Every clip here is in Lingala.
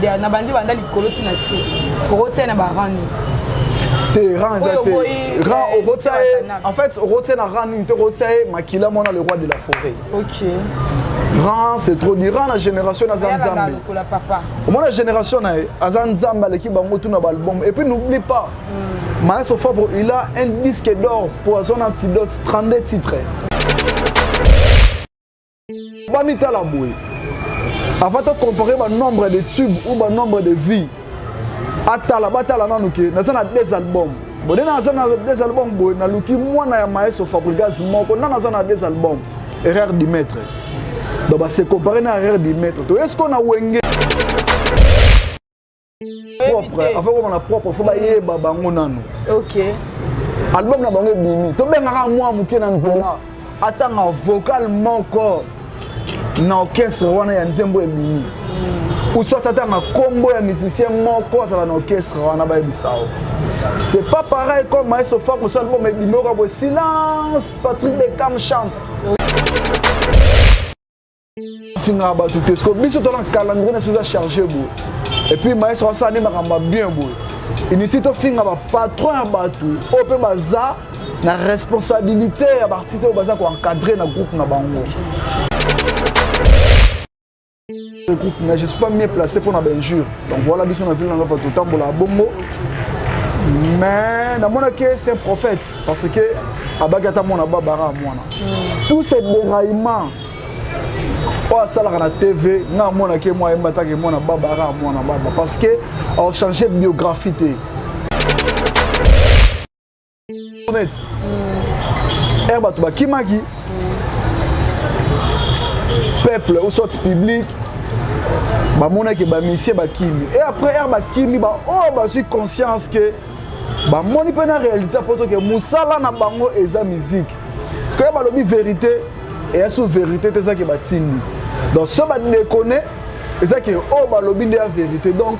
na bandi banda likolo ti na se okotia na barani te ran eza te ran eh, okotia ye en fait okotia na ran nini te okotia ye makila mwana le roi de la forêt ok ran c'est trop dit ran na génération na aza nzambe omona génération na ye aza nzambe aleki bango tout na baalbum et puis n'oublie pas mm. maestro fabre il a un disque d'or poison antidote 32 titres bamitala boye avant to comparer ba nombre de tube ou ba nombre de vie atala batala nanu ke naza na deux albums bode naza na deux albums boye naluki mwana ya maestro fabrigas moko nana aza na deux albums erreur du maître donc base comparer na erreur du maître toyesiko na wenge propre avant komona propre fo bayeba bango nano ok album na bango ebimi tobengaka mwa moke na nzela atanga vocal moko na orchestre wana ya nzembo ebimi uswati atanga nkombo ya musicien moko azala na orchestre wana bayebisa yo c'est pas pareil comme maestro fako so album ebimi oka boye silence patrick becam chante afingaka bato te siko biso tona calendrier na biso eza charge boye epuis maestro asala nde makambo ya bien boye inutile tofinga bapatron ya bato oyo mpe baza na responsabilité ya baartiste oyo baza koencadre na groupe na bango groupe mais je suis pas mieux placé mpona bainjure donc voilà biso na ville na nova totambolaka bongo mais namonaki c'est un prophète parce que abaki ata mwana babara ya mwana hmm. tous ces déraillement oyo asalaka na tv nga amonaki mwa ye mataka emwana baba aka mwana baba parce que ochange biographie te net ere bato bakimaki peuple ou soit public bamonaki bamisie bakimi e après ere bakimi baoyo oh, bazwi conscience ke bamoni mpe na réalité mpo toke mosala na bango eza miziki sikoyo balobi verité eya so verité te eza ke batindi donc so badekone eza ke oyo oh, balobi nde ya verité donc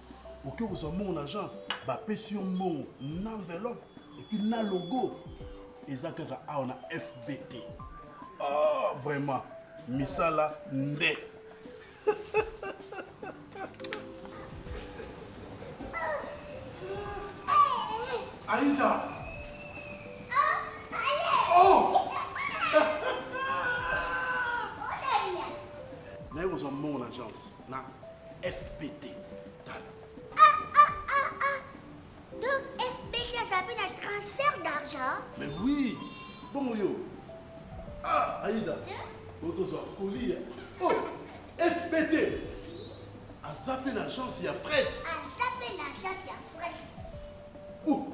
oke kozwa mbongo na agence bapesi yo mbongo na enveloppe epuis na logo eza kaka awa na fbt oh, ah, vraiment misala nde aida naye kozwa mbongo na agence na fpt tala ah, ah, ah, ah. donc fpt aza mpe na transfert d'argent mais oui bongo yo ah aida oyo tozwa kolia oh fpt aza mpe na agence ya fret aza mpe na agence ya fret oh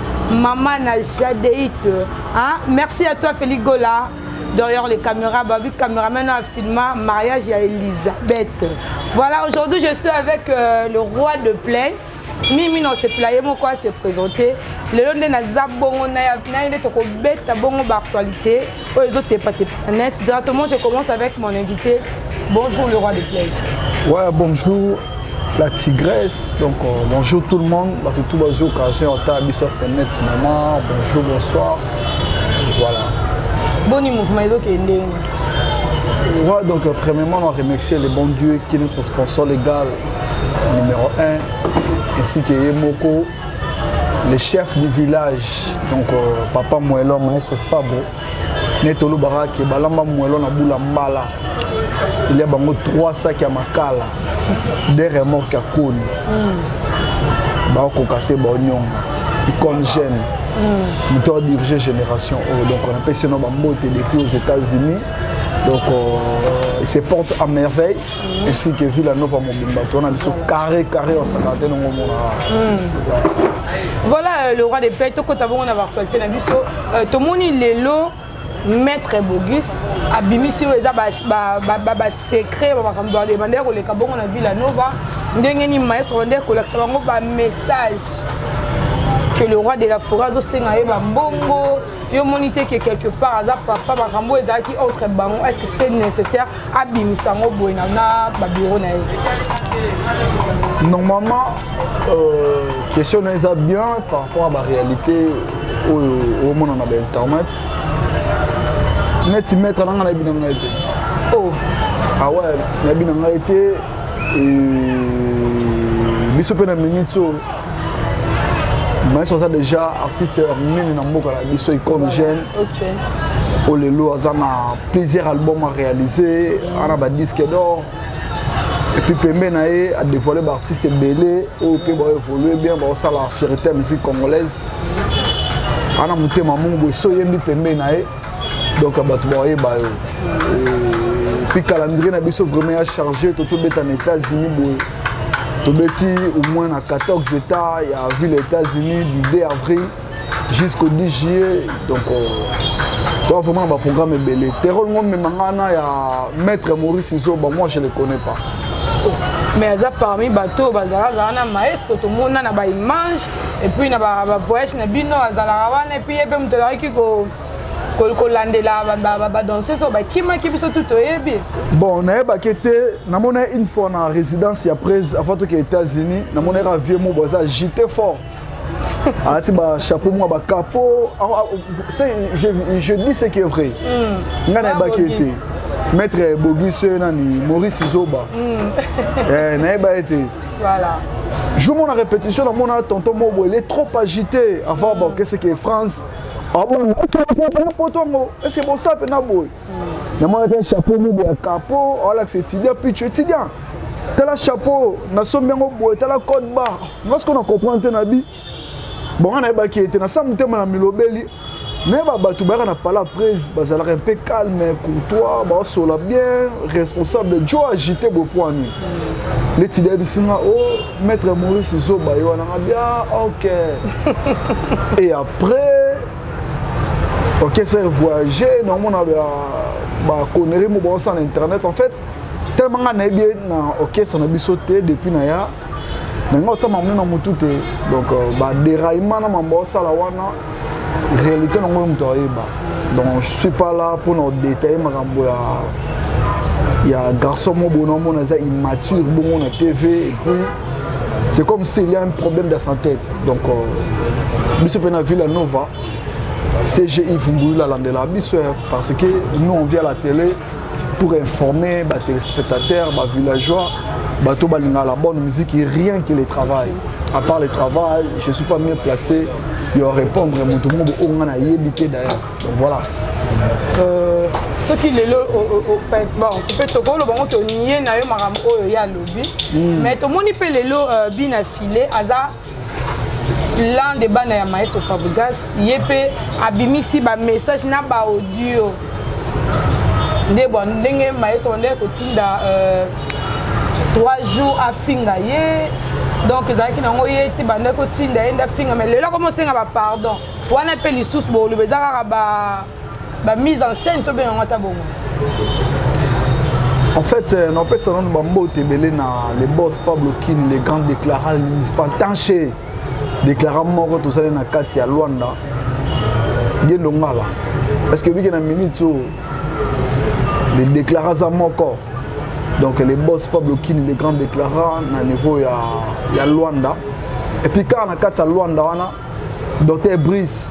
Maman na Jadeite. Hein? Merci à toi, Félix Gola. D'ailleurs, les caméras, bah, vu caméraman a filmé mariage à Elisabeth. Voilà, aujourd'hui, je suis avec euh, le roi de plaine. mimi na osepela ye moko ase présente lelo nde naza bongo na ye nde tokobeta bongo baactualité oyo ezotepatepa na net directement je commence avec mon invité bonjour le roi de play ouais bonjour la tigresse donc euh, bonjour tout le monde bato tout bazwi occasion ata biso ya senet maman bonjour bonsoir voilà boni mouvement ezokende ndenge Ouais, donc euh, premièrement, on remercie le bon Dieu qui est notre sponsor légal numéro 1, ainsi que Yemoko, le chef du village donc euh, papa moelo maestro fabo neti olobaka ke balamba moelo na bula mbala elia bango 3 saki ya makala de remorke ya koni mm. bakokoka te baonyonga icone jeune mm. moto mm. adirige génération oyo oh, donc on apesi no bambote depuis aux états-unis donc euh, se porte à merveille ainsi que Villa Nova mobimba towana biso carré carré en cinquantaine yango omona hmm. voilà euh, le roi de paix tokota bongo na baactualité na biso euh, tomoni lelo maître bogis abimisi oyo eza basecret bamakambo babanda ya koleka bongo na villa nova ndenge nini maestro nde kolakisa bango bamessage que le roi de la forêt azosenga ye bambongo yo moni te ke quelque part aza papa makambo ezalaki entre bango est ce que c'était nécessaire abimisa yango boye na na babiro na ye normalement euh, question na eza bien par rapport ya baréalité oyo omona na bainternet neti maître nanga nayebi na ngai te oh. awa ah nayebi na ngai te biso mpe na minute oyo maestro aza déjà artiste ya monene na mboka na biso icone jeune oyo lelo aza na plusieurs album aréalise ana badisque d'or epuis pembe na ye adévoile baartiste ebele oyo mpe baevolue bien baosala fierité ya musique congolaise ana motema mongo boye so oyembi pembe na ye donc bato baoyeba yo epuis calendrier na biso vraiment ya charge toki obeta na états-unis boye tobeti au moins na 14 états ya ville ya états-unis du 2 avril jusqu'au 10 juillet donc euh, toa vraiment na baprogramme ebele terol ngo mema ngai na ya maître maurice zoba moi je le connais pas mais aza parmi bato oyo bazalazala na maestro tomona na baimage epuis na bavoyage na bino azalaka wana epuis ye mpe moto azalaki kolandela badanseuse oyo bakimaki biso tu toyebi bon nayebaki te namonaki une fois na résidence ya prese avant toke états-unis namonaki ka vieux mobo aza agité fort alati bachapeau mwa bakapo ah, ah, je dis ce qui est vrai hmm. ngai nayebaki ye te maître bogis oyo nani maurice zoba hmm. eh, nayeba ye te jour mona répétition namona tonton mobo ele trop agité avant hmm. baokeseke france abona ah ese bakonte na poto yango ese bosa mpe na boye namonaka chapeau mobo ya kapo alakisa étudiant picho étudiant tala chapeau nasombi yango boye tala code bar nga sikoyo na comprendre te na bi bonga nayebaki ete na sa motema na milobeli nayeba bato bayaka na pala prise bazalaka mpe calme courtois baosola bien responsable jo agité bopoani leti dayebisi nga o oh, maître maurice zoba ye wana nga bia ah, ok et après ok c'est voyager naomona baconnerie mo baosa na internet en fait tellement nga nayebi ye na orchestre na biso te depuis na ya na nga otia mamoni na motu te donc euh, baderaillement na mambo osala wana réalité na ngoyo moto ayeba donc je suis pas là mpo na odetaille makambo ya ya garçon mo bono amona eza immature bongo na tv et puis c'est comme s'il y a un problème dans sa tête donc euh, biso mpe na villa nova cgi vumbulula alandela biso parce que nous on vient à la télé pour informer ba téléspectateurs ba villageois bato balingaka la bonne musique rien que le travail à part le travail je suis pas mieux placé yo répondre moto moko oyo nga nayebi te d'ailleurs donc voilà euh, soki lelo bon mpe tokoloba ngo tonie na yo makambo oyo ye alobi hmm. mais tomoni mpe lelo euh, bina file aza l'un de bana ya maestro fabrigas ye mpe abimisi bamessage na baaudio nde bwa ndenge maestro bandeki kotinda euh, trois jours afinga ye donc ezalaki nango ye te banda kotinda ye nde afinga mai lelo akomi osenga bapardon wana mpe lisusu boloba eza kaka bamise en scène tobenga yango ata bongo En fait, euh, napesa nanu bambote ebele na le boss Pablo Kin, le grand déclarant, le municipal Tanché. déclarant moko tozali na kati ya Luanda Gendo Ngala parce que biki na minute oyo le déclarant aza moko donc le boss Pablo Lokini le grand déclarant na niveau ya, ya Luanda et puis kaka na kati ya Luanda wana docteur Brice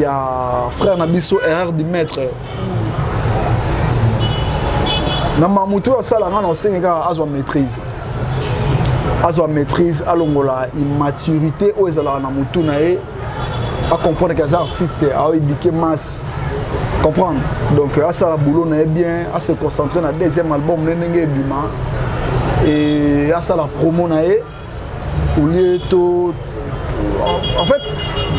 ya frère na biso erreur du maître na mamutu oyo asala nga na osengi kaka azwa maîtrise azwa maîtrise alongola immaturité oyo ezalaka na motu na ye acomprendre ke aza artiste aoedike masse comprendre donc asala boulot na ye bien ase concentre na deuxième album ne ndenge ebima e asala promo na ye olie to en fait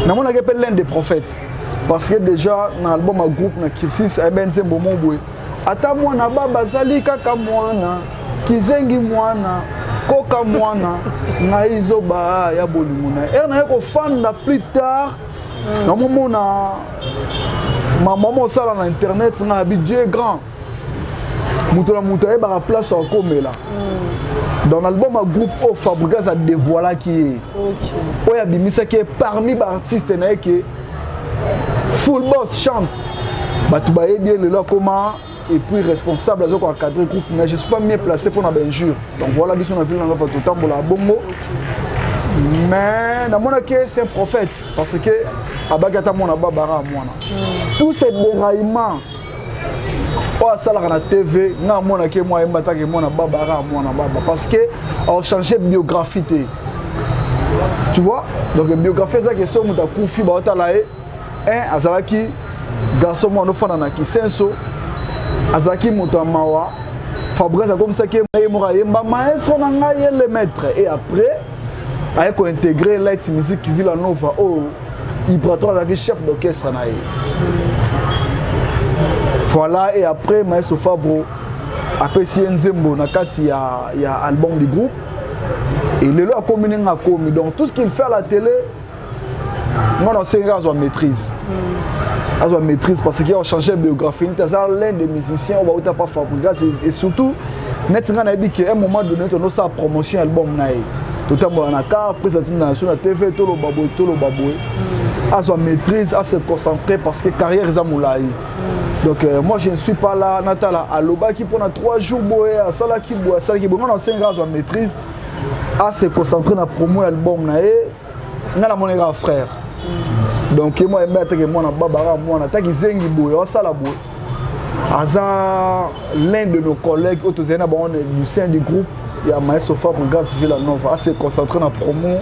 namonaki mpe l'un des prophètes parce que déjà na album ya groupe na kirsis ayebe eh nzembo mo boye ata mwana baba azali kaka mwana kizengi mwana koka mwana ngai zoba ya bolingo na ere naye kofanda plus tard namomona mama mosala na internet na bi dieu grand moto na moto ayebaka place akomela mm. dans l'album ya groupe oyo fabrigas adevoilaki ye oyo abimisaki ye parmi baartiste na ye ke full boss chante bato bayebi ye lelo akoma et puis responsable azoki encadrer groupe mais je suis pas mieux placé pour na benjure donc voilà biso na ville na ngapa totambola bongo mais namonaki c'est un prophète parce que abaki ata mwana babara ya mwana mm. tous ces déraillements oyo asalaka na tv nga amonaki mwa ye mbataki mwana baba aka mwana baba parce que aochange biographie te tu vois donc biographie ezaki eso moto akufi baotala ye un azalaki garçon mwana ofanda na kisenso azalaki moto ya mawa fabrice akomisaki ye moko ayemba maestro na ngai ye le maître et après aye kointegre light musique villanova oyo oh, Ibrato azalaki chef d'orchestre na ye. Voilà et après Maestro Fabro apesi ye nzembo na kati ya, ya album du groupe et lelo akomi ndenge akomi donc tout ce qu'il fait à la télé nga nasengaka azwa maîtrise azwa maîtrise parce que achange biographie nete aza l'un des musiciens oyo bauta pa fabrigas et surtout neti ngai nayebi ke un moment donné tonosala promotion ya album na ye totambola na car prise atinda na so na tv toloba boye toloba boye mm. azwa maîtrise ase concentré parce que carrière eza molai mm. donc euh, moi je ne suis pas là natala alobaki mpo na 3 jours boye asalaki boye asalaki boye ngai nasengi azwa maîtrise ase concentré na promo ya album na ye nga na mona kaka frère donc ye mwa yembe ateke mwana baba kaka mwana ta kizengi boye asala boye aza l'un de nos collègues oyo tozali na bango du sein du groupe ya maestro fabre grace villa nova ase concentre na promo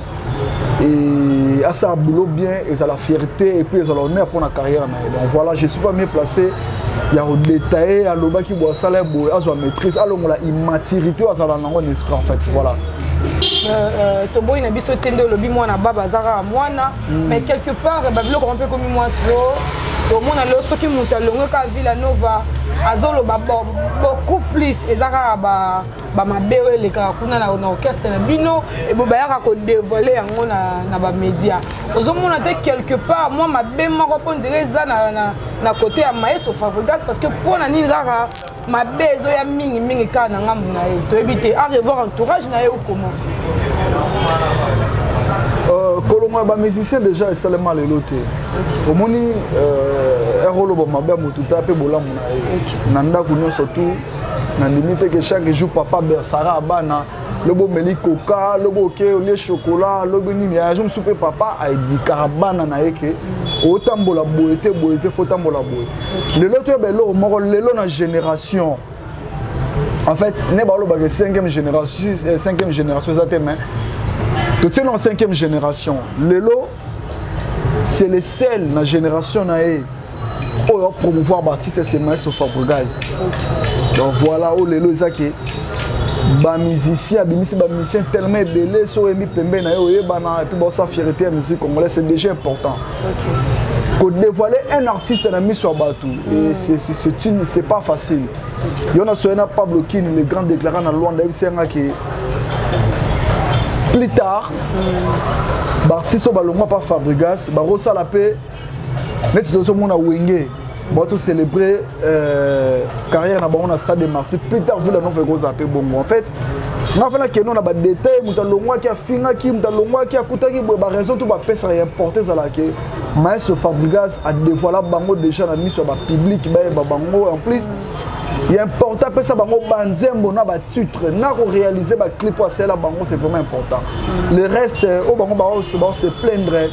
et asala boulot bien ezala fierté et puis ezala honneur mpo na carrière na ye donc voilà je suis pas mieux placé ya kodetaille alobaki boye asala ye boye azwa maîtrise alongola immaturité oyo azala nango na esprit en fait voilà Euh, euh, toboyi na biso te nde olobi mwana baba aza kaka mwana mm. mais quelque part babiloko yango mpe ekomi mwa trop tomona lelo soki moto alongwe kaka villa nova azoloba beaucoup plus eza kaka bamabe oyo elekaka kuna na orchestre na bino ebo bayaka kodevoile yango na bamédia ozomona te quelque part mwa mabe moko mpo ndire eza na kote ya maestro fabrigas parce que mpo na nini kaka mabe ezoya mingi mingi kaka na ngambo na ye toyebi te a revoir entourage na ye okoma euh, kolongola bamusicien déjà esalema lelo te omoni euh, eroloba mabe ya motu ta mpe bolamu na ye na ndako nyonso tu nandimi te ke chaque jour papa bersara abana lobi omeli koka lobi oke olie chokola lobi nini azo mosusu mpe papa aedikaka bana na ye ke otambola boye te boye te fo otambola boye lelo toyeba eloko moko lelo na génération en fait ne balobaka cinquième génération eh, cinquième génération eza te mais totieli na cinquième génération lelo c'est le sel na génération na ye oyo promouvoir baartiste se maestro fabrigaz donc voilà oyo lelo eza ke bamusicien abimisi bamusicien tellement ebele so oyembi pembe na ye oyebana epuis baosa fierité ya musique congolais c'est déjà important kodevoile un artiste na miso ya bato c'est pas facile yo na soye na pablo kini le grand déclara na lwanda yebisi yanga ke plus tard baartiste oyo balongwa pa fabrigas bakosala mpe neti tozomona wenge bon to célébrer euh, carrière na bango na stade de martyr plus tard vila nova ekozala mpe bongo en fait nga fana keno na badetail moto alongwaki afingaki moto alongwaki akutaki boye baraison to bapesaka ya importe ezalaka ke maestro fabrigas adevoila bango déjà na miso ya bapublike bayeba bango en plus ya important apesa bango banzembo na batitre na korealize baclip oyo asalela bango c'est vraiment important le reste oyo bango baose plaindre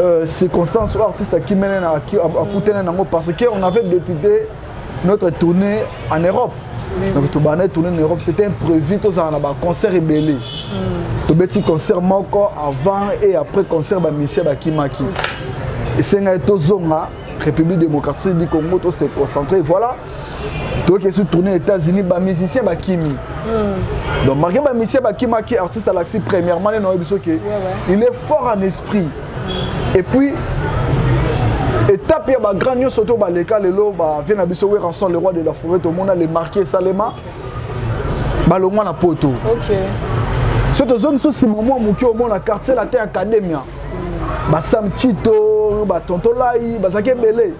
euh, circonstance oyo artiste akimene akutene nango parce que on avait député notre tournée en europe donc tobanda tournée en europe c'était imprévu tozala na baconcert ebele hmm. tobeti concert moko avant et après concert bamisia bakimaki esengaki tozonga République démocratique du Congo, tout s'est concentré. Voilà. Donc, ils sont tournés aux États-Unis, bah, musiciens, bah, Kimi. Mm. Donc, malgré bah, musicien, bah, Kimi, qui est artiste à l'accès, premièrement, non, il, ouais, ouais. il est fort en esprit. Mm. Et puis, étape ya ba grand nyonso to baleka lelo bavie na biso weranson le roi de la forêt tomona le marqué esalema balongwa na poto okay. so tozongi so nsima mwa moke omona quartier latin academia basam chito batontolai bazalaki ebele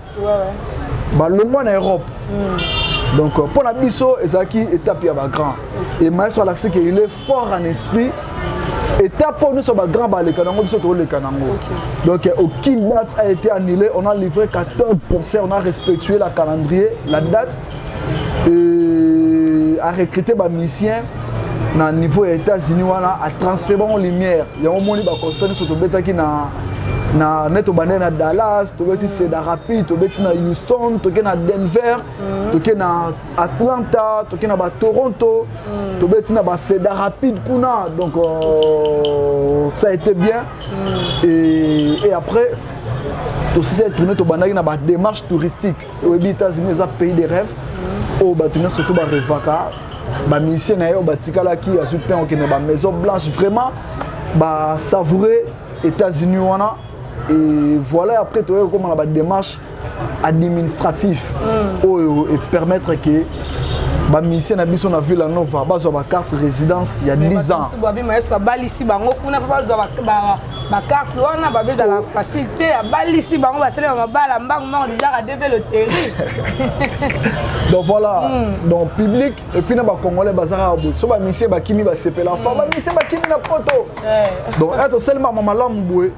balongwa na europe hmm. donc euh, mpo na biso ezalaki étape ya bagrand e maestro alakisi ke il est fort en esprit étape oyo nyonso bagrand baleka nango biso toleka nango donc euh, aucune date a été annulé on a livré 14 concert on a respectué la calendrier la date euh, a recruter ba musiciens na niveau ya états-unis wana atransfere bango lumière yango omoni baconcert nyonso tobetaki na na ne tobandaki na dallas tobeti seda rapide tobeti na houston toke na denver mm. toke na atlanta toke na batoronto mm. tobeti na baseda rapide kuna donc euh, ça a été bien mm. et, et après tosisi tourne tobandaki na badémarche touristique oyebi états-unis eza pays de rêve oyo bato nyonso to barevaka bamisie na ye oyo batikalaki azwi ntan okende bamaison blanche vraiment basavoure états-unis wana et voilà après toyei kokóma na badémarche administratif mm. oyo epermettre ke bamisie na biso na villa nova bazwa bacarte résidence ya 10 ans bakarte wana babe ezalaka facile te abalisi bango basalema mabala mbangu mbango déjà adeve loterie donc voilà mm. donc public epuis na bacongolais bazalaka boye so bamisie bakimi basepela fa hmm. bamisie bakimi na poto eh. donc eto eh, salemama malamu boye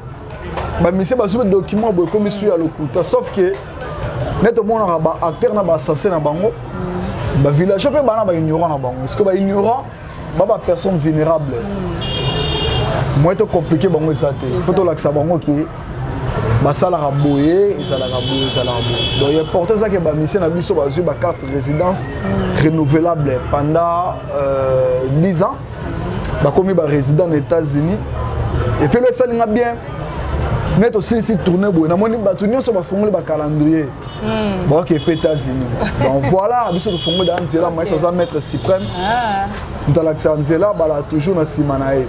bamisie bazwi badocument boye ekomi su ya lokuta sauf ke nde tomonaka baacteur na baassassin na bango hmm. bavillageois mpe bana baignorant na bango ceque baignorant ba ba personne vulnérable mm. moyen to compliquer bango eza te faut tolakisa bango ke basalaka boye ezalaka boye ezalaka boye donc ya porte eza ke bamisie na biso bazwi bacarte résidence mm. renouvelable pendant euh, 10 ans bakomi barésident na états-unis epelo esali nga bien neti osilisi tourne boye namoni bato nyonso bafungoli bacalendrier hmm. baoki epe états-unis donc voilà biso tofongoli aa nzela maïs aza maître suprême ah. moto alakisa nzela bala toujours na nsima na ye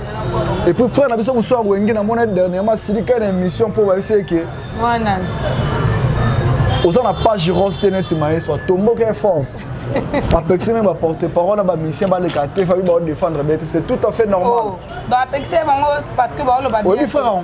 epuis frère na biso mosusu ya wenge namona dernièrement asilika na émission mpo bayebisi eke oza na page rose te neti maïs atomboki forme bapekisi meme baporte parole na bamisien baleka te fabi baodefendre bete c'est tout à fait normal oh, bapekisi bango parce que baoloba oyebi frère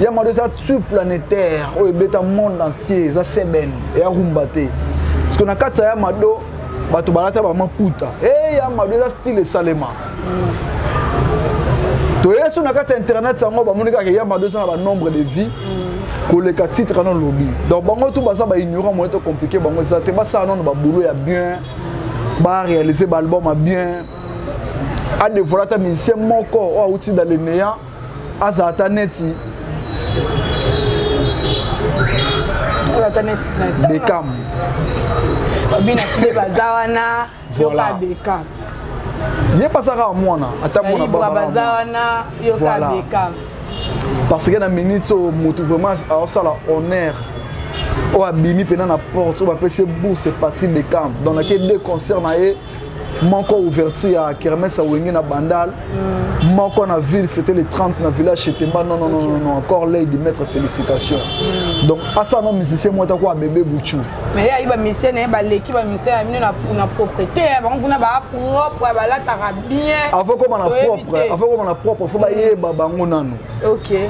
ya mado eza tu planétaire oyo ebeta monde entier eza seben eya rumba te parce que na kati ya mado bato balata bamaputa e ya mado eza style esalema toye so na kati ya internet yango bamoni kaka ya mado eza na banombre de vie koleka titre ano lobi donc bango tu baza baignorant moye to compliqué bango eza te basala nono baboulot ya bien baréalise baalbum ya bien adevoile ata musicien moko oyo awuti dans le néant aza ata neti bekam babina fide baza wana yoka bekam ye pasaka mwana ata mwana baza wana yoka bekam parce que na minute oyo motu vraiment aosala honneur oyo abimi mpena na porte oyo bapesi ye bourse patrick bekam donc nake deux concert na ye moko ouverture ya kermesse ya wenge na bandal mm. moko na ville c'était le 30 na village chetemba non non non non encore lei du maître félicitation mm. donc asa na musicien moko atako abebe buchu mais ayi ba musicien na ye baleki ba musicien ya bino na propreté bango kuna ba propre balataka bien avant koma na propre avant koma na propre fo bayeba bango nanu ok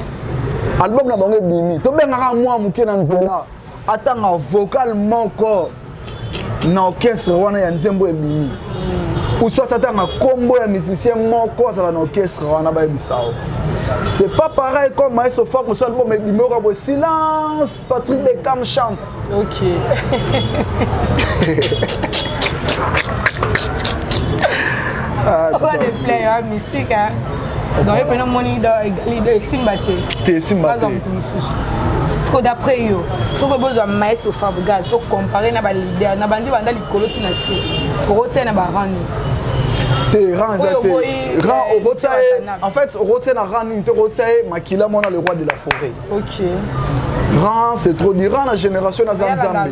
album na bango ebimi tobengaka mwa moke na nzela atanga vocal moko na orchestre wana ya nzembo ebimi uswat atanga nkombo ya musicien moko azala na orchestre wana bayebisa yo c'est pas pareil comme maestro fak mosala album ebimi oka boye silence patrick becam chante ok ah, donc epena moni lido esimba te te esimba te moto mosusu siko d'après yo soki bozwa maestro fabrigaz ocompare na balider na bandi banda likolo ti na se okotia na barani te ran eza te ran eh, okotia ye en fait okotia na ran nini te okotia ye makila mwana le roi de la forêt ok ran c'est trop dit ran na génération aza nzambe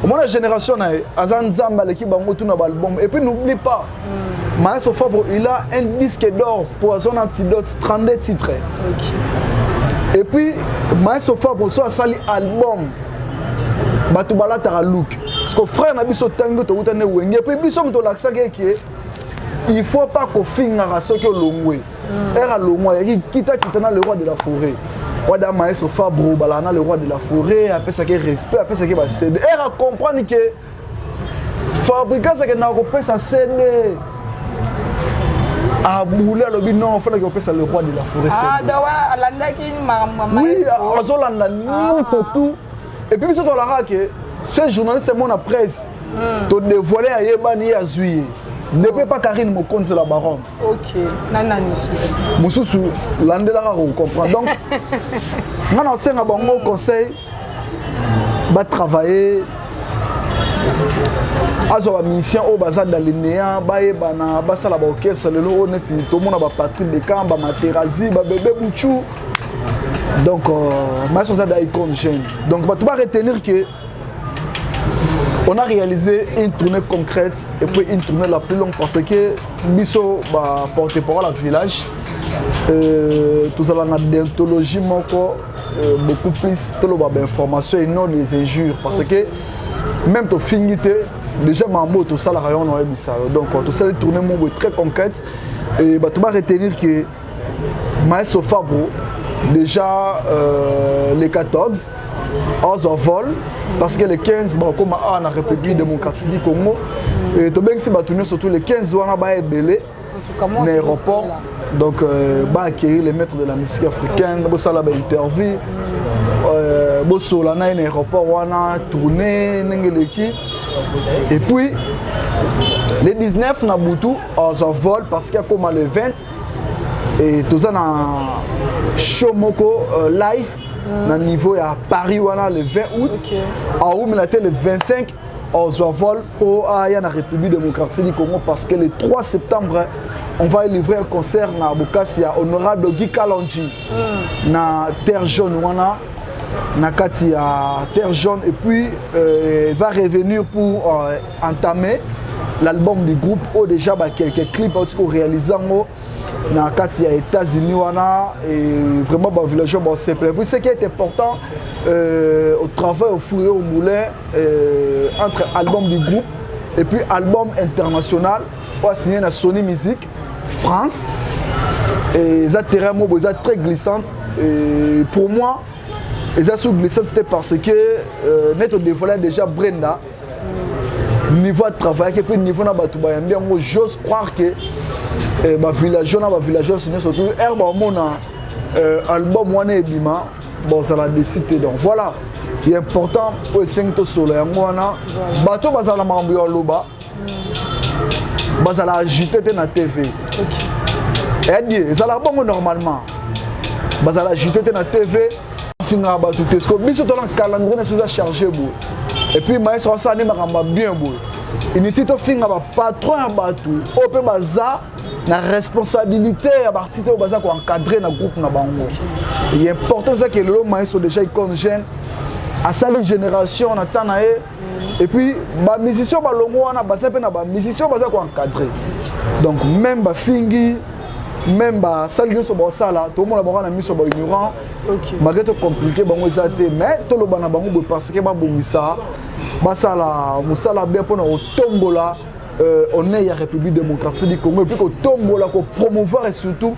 omona génération na ye aza nzambe aleki bango tuna baalbum et puis n'oublie pas Maestro Fabro, il a un disque d'or Poison Antidote, 32 titres. Okay. Et puis, Maestro Fabro, soit sali album, bato balataka look. Parce que frère na biso tango towuta ne wenge. Et puis biso moto lakisaki eke il faut pas kofingaka soki olongwe. Mm. Era longwa yaki kita kita na le roi de la forêt. Wada Maestro Fabro, balana le roi de la forêt, apesaki respect, apesaki ba CD. Era comprendre que fabrigas akendaka kopesa sede aboule alobi non ofandaki kopesa le roi de la forêt ah, ah, azolanda nyonso ah. tout epuis biso tolakaka ke ce journaliste emona presse hmm. todevoile ayebani ye azwi ye depuis epa karine mokonzi la baronne mosusu landelaka kocomprendre donc ngai nasenga bango conseil ba travailler azwa bamusicien oyo baza dalinea bayebana basala baorchestre lelo oyo neti tomona bapatrik becam bamaterazi babebe buchu donc euh, maestro aza daicon jeune donc bato ba retenir que on a réalisé une tournée concrète et puis une tournée la plus longue parce que biso baporte parole ya village euh, tozala na dentologie moko Euh, beaucoup plus toloba ba information et non les injures parce que même to fingi te déjà mambo tosalaka yango na oyebisa yo donc tosali tourne moko boye très concrète et bato ba retenir que maestro fabro déjà euh, les 14 azwa vol parce que le 15 bakokoma awa na république démocratique du congo et tobengisi bato nyonso surtout le 15 wana baya ebele na aéroport donc euh, ba acquérir les maîtres de la musique africaine bosala ba interview euh, bosola na ye na aéroport wana tourne ndenge eleki et puis le 19 na butu azwa vol parce que akoma le 20 et toza na show moko euh, live na niveau ya paris wana le 20 août aumela te le 25 ozwa vol mpo aya na république démocratique du congo parce que le 3 septembre on va livrer un concert na bokasi ya honorable guy kalonji mm. na terre jaune wana na kati ya terre jaune et puis euh, va revenir pour euh, entamer l'album du groupe oyo déjà bakelke clip auti koréalise yango na kati ya états-unis wana et vraiment bavillageois basepela puis ce qui est important euh, au travail au four et au moulin euh, entre album du groupe et puis album international oyo asigne na sony musique france et eza terrain moko eza très glissante et pour moi eza sur glissante te parce que euh, neti odevoila déjà brenda niveau atravaillaki mpe niveau na bato bayambi yango j'ose croire que eh, bavillageois na bavillageoise nyonso tu ere baomona eh, album wana ebima bozala desi te donc voilà ya important oyo esengi tosolola yango wana bato bazala na makambo ya loba bazala agite te na tv edi ezalaka bongo normalement bazala agite te na tv afingaka bato te siko biso tona calendrier na biso eza charge boye epuis maestro asala nde makambo ya bien boye inutile tofinga bapatron ya bato oyo mpe baza na responsabilité ya baartiste oyo baza koencadre na groupe na bango important ezaki lelo maestro déjà icone jeune asali génération na temps na ye et puis ba musiciens ba longo wana baza pe na ba musiciens baza ko encadrer donc même ba fingi même ba sali nyoso ba sala to mona ba na miso ba ignorant okay. malgré to compliquer bango eza te mais to loba na bango parce que ba bongisa ba sala musala bien pona otombola euh, honneur ya république démocratique du congo epuis kotombola kopromouvoir et surtout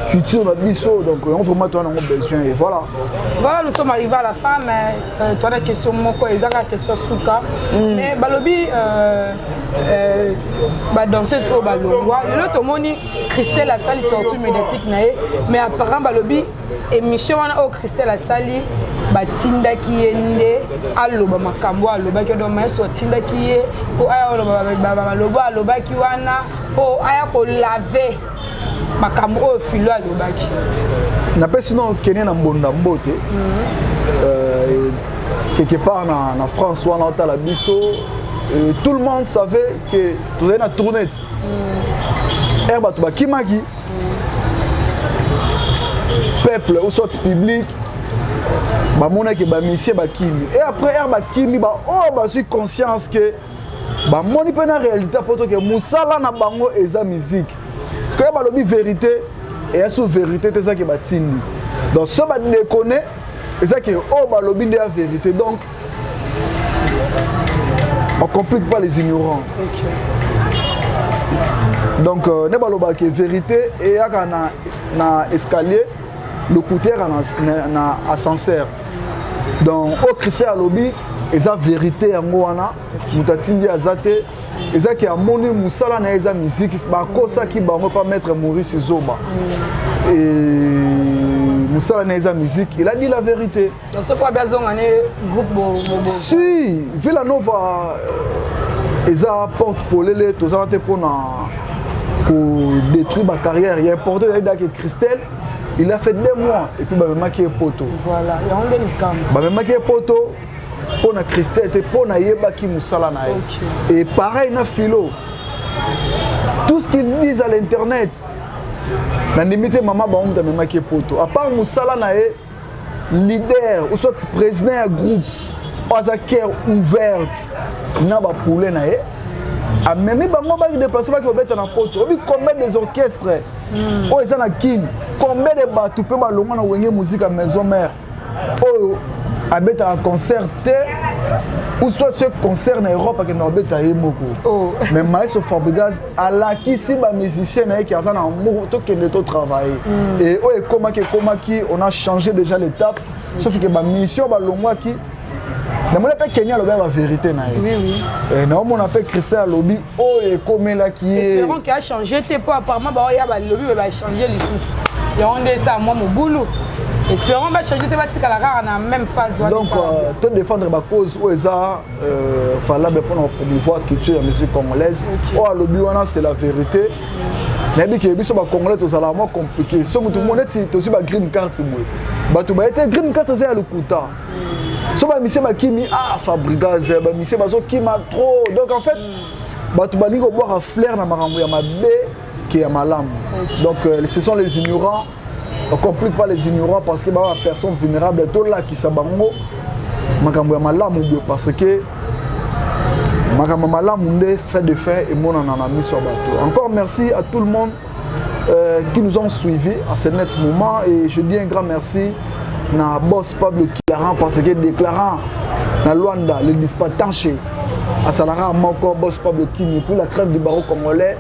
culture na biso donc yango vraiment toa nango besoin et voilà voilà nous sommes arrivé à la fin mais euh, toa na question moko ezaka question suka mm. mais balobi euh, euh, badanseuse oyo balongwa lelo tomoni christelle asali sortie médiatique na ye mais apparent balobi emission wana oyo christelle asali batindaki ye nde aloba makambo alobaki odo maestro atindaki ye mpo aya oloba balobo alobaki wana mpo aya kolave makambo oyo filo alobaki napesi no kene na mbonda mbote mhm. euh, quelque part na, na france wana otala biso euh, tout le monde savait que tozali na tournete mhm. ere bato bakimaki peuple ou soit public bamonaki bamisie bakimi e après r bakimi baoyo oh, bazwi conscience ke bamoni mpe na réalité mpo toke mosala na bango eza miziki sikoyo balobi verité eya so verité te ezaki batindi donc so badekone ezaki oyo oh, balobi nde ya verité donc On complique pas les ignorants. Donc, euh, ne baloba que vérité et yaka na, na escalier, le couteau na, na ascenseur. Donc, au Christ à lobby, eza vérité yango wana moto atindi aza te ezaki amoni mosala na ye eza miziki bakosaki bango pa maître maurice zoba mosala na ye eza miziki eladi la vérité soki wabi azonga ne groupe bobo si villa nova euh, eza porte polele tozala te mpona kodétruire bacarrière ya importe ezali dake christelle il a fait deux mois et puis bamemaki ye poto voilà yango nde likambo bamemaki ye poto mpo na christelle te mpo nayebaki mosala na ye okay. et pareil na philo tout ce qu'ils disent à l'internet nandimi te mama bango moto amemaki ye poto apart mosala na ye leader ou soit président ya groupe oyo aza cœur ouverte na bapoulet na ye amemi bango baki déplace baki kobeta na poto oyebi combien des orchestres hmm. oyo eza na kin combien de bato mpe balongwa na wenge muzika maison mare oyo abetaka concert te ou soit ce concert na europe akendaka kobeta ye moko oh. mais maestro fabrigas alakisi ba musicien na ye ke aza na amour tokende to travailler mm. et oyo ekomaki ekomaki on a changé déjà l'étape mm. sauf que ba mission balongwaki namoni mpe keni alobi ya baverité na ye eh, naomona mpe christel alobi oyo oh, ekomelaki yeespérance achange te mpo apparemment baoya balobi oyo bachange lisusu yango nde esa mwa mobulu espérant bachange te batikala kaka na même phase donc euh, to défendre bacause oyo eza euh, valable mpona kopromouvoir culture ya musique congolaise oyo alobi wana c'est la vérité nayebi ke biso bacongolais tozalaka mwa compliqué so motu mo neti tozwi bagreen cart boye bato baye te green cart eza ya lokuta so bamisie bakimi ah fabrigas eh, bamisie bazokima trop donc en fait mm. bato balingi kobwaka flaire na makambo ya mabe ke ya malamu donc euh, ce sont les ignorants on complique pas les ignorants parce que baza personne vulnérable tolakisa bango makambo ya malamu boye parce que makambo malamu nde fin de fin emonana na miso ya bato encore merci à tout le monde euh, qui nous ont suivi à ce net moment et je dis un grand merci na boss pablo kilaran parce que déclarant na luanda le dispatanche asalaka moko boss pablo kimi pour la crève du barreau congolais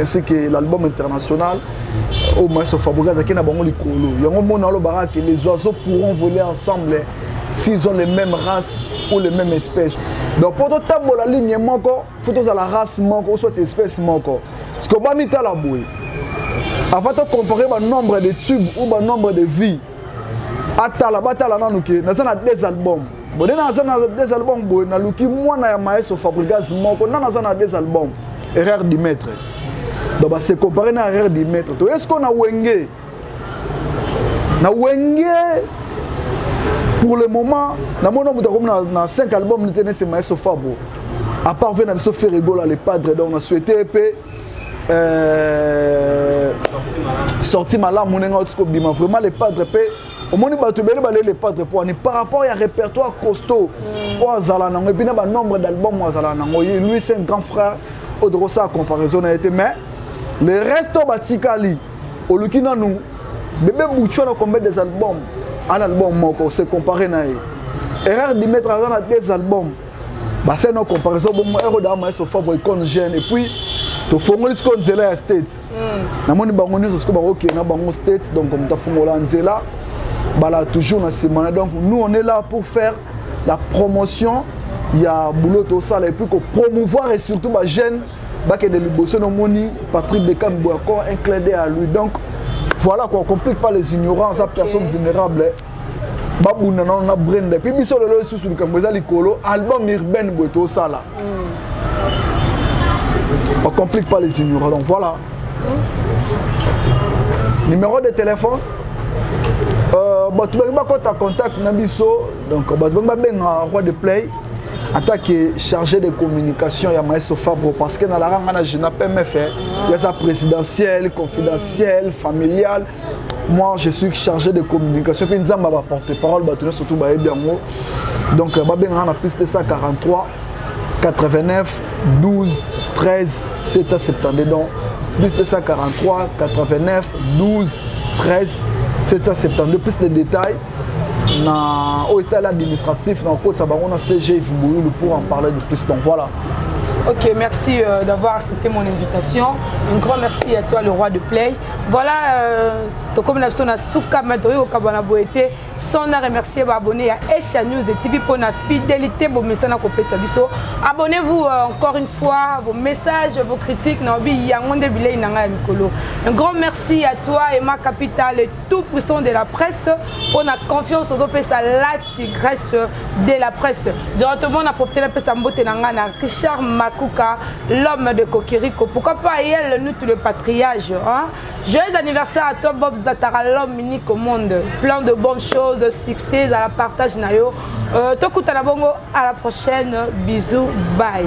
ainsi que l'album international euh, au maestro Fabrice azaki na bango likolo yango mona olobaka que les oiseaux pourront voler ensemble s'ils ont les mêmes races ou les mêmes espèces donc mpo totambola ligne moko fo tozala race moko o soit espèce moko ceke obamitala boye avant tocompare banombre de tube ou banombre de vie atala batala nanu ke naza na deux albums bone na aza na des albums boye naluki mwana ya maestro fabrigas moko nana aza na des albums erreur du maître donc base compare na erreur du maître toye siko na wenge na wenge pour le moment namona moto akomi na 5 album nete neti maestro fabo à part ve na biso ferregola le padre donc na souhaite mpe euh, sorti malamu ndenge auti kobima vraiment le padre mpe omoni bato ebele bale le patre mpo ani par rapport ya répertoire costaud mm. oyo azala nango epuis na banombre d'album oyo azala nango ye lui c'est un grand frère oyo tokosala comparaison na ye te mais le reste oyo batikali oluki nanu bebe butsho na combien des albums ana album moko se compare na ye erreur dimetre aza na deux albums basali na comparaison bongo eroda maestro fabro icone jeune epuis tofongoli sikoyo nzela ya state hmm. namoni bango nyonso sikoyo bakokende na bango state donc moto afungola nzela bala toujours na nsima na donc nous on est là pour faire la promotion ya boulot tosala epuis kopromouvoir et surtout bajeune bakende liboso nomoni patrick bekam boyakor un clede ya lui donc voilà quoi on complique pas les ignorants aza personne vulnérable babunda nano na brenda epuis biso lelo lisusu likambo eza likolo album urbaine boye tosala mm. on complique pas les ignorants donc voilà mm. numéro de téléphone euh, bato bangi bakota contact na biso donc bato bangi babenga roi de play ata ke chargé de communication ya maestro fabro parce que nalaranga na gina pmf eh. yaza présidentielle confidentielle familiale moi je suis chargé de communication mpe nzambe ba porte parole bato nyonso surtout bayebi yango donc euh, babengaka na plus 243 89 12 13 772 donc plus 243 89 12 13 772 plus de détails na oyo etali administratif na kokotisa bango na cg vimbuyulu pour en parler de plus donc voilà Ok, merci euh, d'avoir accepté mon invitation. Un grand merci à toi, le roi de Play. Voilà, euh, tokomi na biso na suka mais tokoki kokabana boye te sans na remercier baabonné ya Asia News et TV mpo na fidélité bomesana kopesa biso abonnez-vous euh, encore une fois vos messages vos critiques na obi yango nde bilei na ngai ya mikolo un grand merci à toi Emma Capital le tout puissant de la presse mpo na confiance ozopesa la tigresse de la presse directement na profite napesa mbote na ngai na richard makuka l'homme de kokiriko pourquoi pas yel nous tout le patriage hein? joyeux anniversaire à toi bob zatara l'homme unique au monde plein de bonnes choses succès ezala partage na yo euh, tokutana bongo à la prochaine bisous bye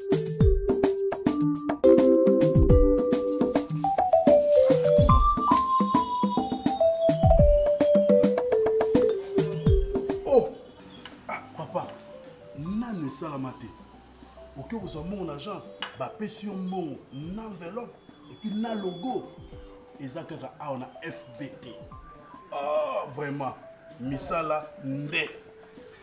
bapesi yo mbongo na enveloppe epuis na logo eza kaka awa na fbt oh, ah, vraiment misala nde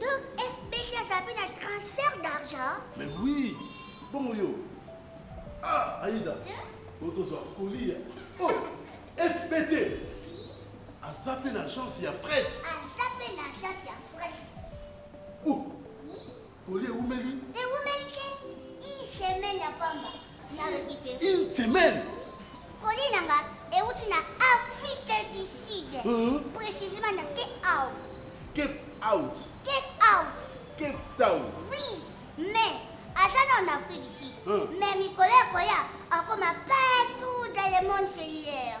Donc FBG azabi na transfert d'argent Mais oui Bongo yo Ah Aïda hein? Otozwa colis Oh FBT Si Aza pe na agence ya fret Aza pe na agence ya fret Oh Oui Colis ewumeli Ewumeli ke Une semaine ya pamba Une semaine. Colis nanga euti na Afrique du Sud. Hum. Précisément na Cape Town. Cape Out. Cape Town. Cape Town. Oui, mais aza na en Afrique du Sud. Hum. Mais mikolo ya koya akoma partout dans le monde cellulaire.